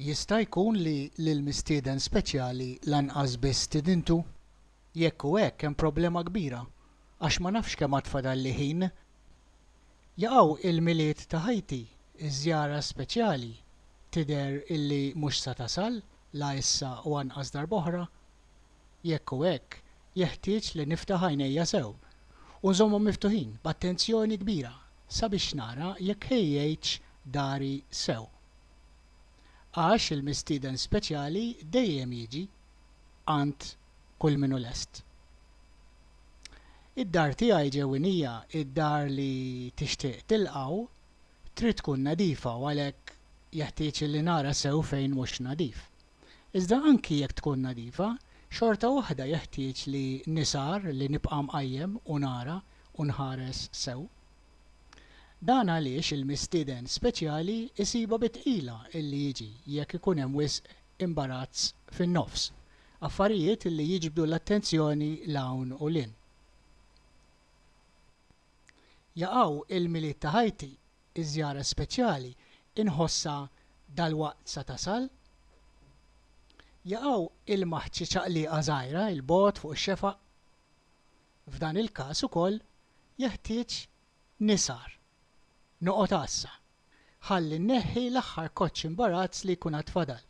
Jista' jkun li lill-mistieden speċjali lanqas biss stidintu? Jekk hu hekk hemm problema kbira, għax ma nafx kemm għad fadalli ħin. Jaqaw il-Milied ta' ħajti, iż-żjara speċjali tidher illi mhux sa tasal, la issa u anqas darb'oħra, jekk hu hekk, jeħtieġ li niftaħ għajnejja sew u nżommhom miftuħin b'attenzjoni kbira sabiex nara jekk ħejjejtx dari sew. Għax il-mistieden speċjali dejjem jiġi għand kull min hu lest. Id-dar tiegħi ġewwinija, id-dar li tixtieq tilqgħu, trid tkun nadifa u għalhekk jeħtieġ li nara sew fejn mhux nadif. Iżda anki jekk tkun nadifa, xorta waħda jeħtieġ li nisgħar, li nibqa' mqajjem u nara u nħares sew. Dan għaliex il-mistieden speċjali jsibha bi tqila illi jiġi jekk ikun hemm wisq imbarazz fin-nofs, affarijiet li jiġbdu l-attenzjoni 'l hawn u 'l hinn. Jaqaw il-Milied ta' ħajti, iż-żjara speċjali inħossha dalwaqt sa tasal. Jaqaw ilma ħċi ċaqlieqa żgħira 'l bogħod fuq ix-xefaq. F'dan il-każ ukoll jeħtieġ nisgħar. Noqgħod għassa. Ħalli nneħħi l-aħħar koċċ imbarazz li jkun għad fadal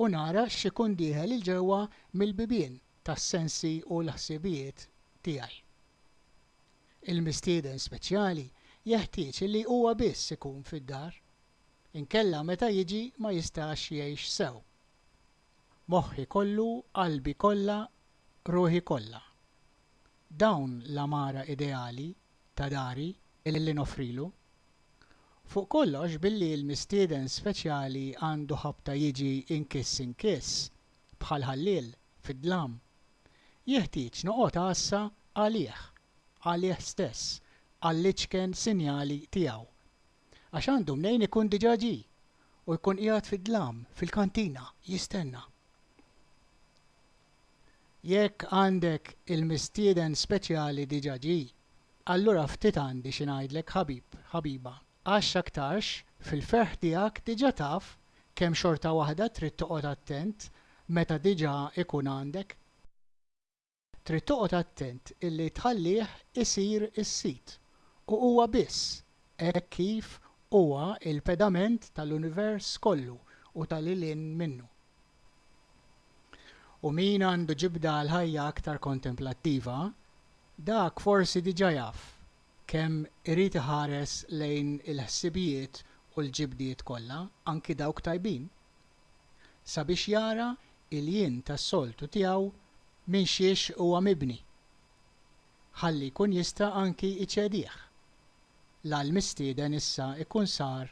u nara x'ikun dieħel 'il ġewwa mill-bibien tas-sensi u l-ħsiebijiet tiegħi. Il-mistieden speċjali jeħtieġ li huwa biss ikun fid-dar, inkella meta jiġi ma jistax jgħix sew. Moħħi kollu, qalbi kollha, ruħi kollha. Dawn l-għamara ideali ta' dari li noffrilu. Fuq kollox billi l-mistieden speċjali għandu ħabta jiġi inkiss inkiss, bħal ħalliel, fid-dlam, Jeħtieġ noqgħod għassa għalih, għalih stess, għall-iċken sinjali tiegħu. Għax għandu mnejn ikun diġà ġie u jkun qiegħed fid-dlam fil-kantina jistenna. Jekk għandek il-mistieden speċjali diġà ġie, allura ftit għandi xi ngħidlek ħabib, ħabiba. Għax x'aktarx, fil-ferħ tiegħek diġà taf kemm xorta waħda trid toqgħod attent meta diġà ikun għandek. Trid toqgħod attent illi tħallih isir is-sid, u huwa biss, hekk kif huwa l-pedament tal-univers kollu u ta' lil hinn minnu. U min għandu ġibda għall-ħajja aktar kontemplattiva, dak forsi diġà jaf kemm irid iħares lejn il-ħsibijiet u l-ġibdiet kollha, anki dawk tajbin, sabiex jara il-jien tas-soltu tiegħu minn xiex huwa mibni, ħalli jkun jista' anki jċedih. L-għall-mistieden issa jkun sar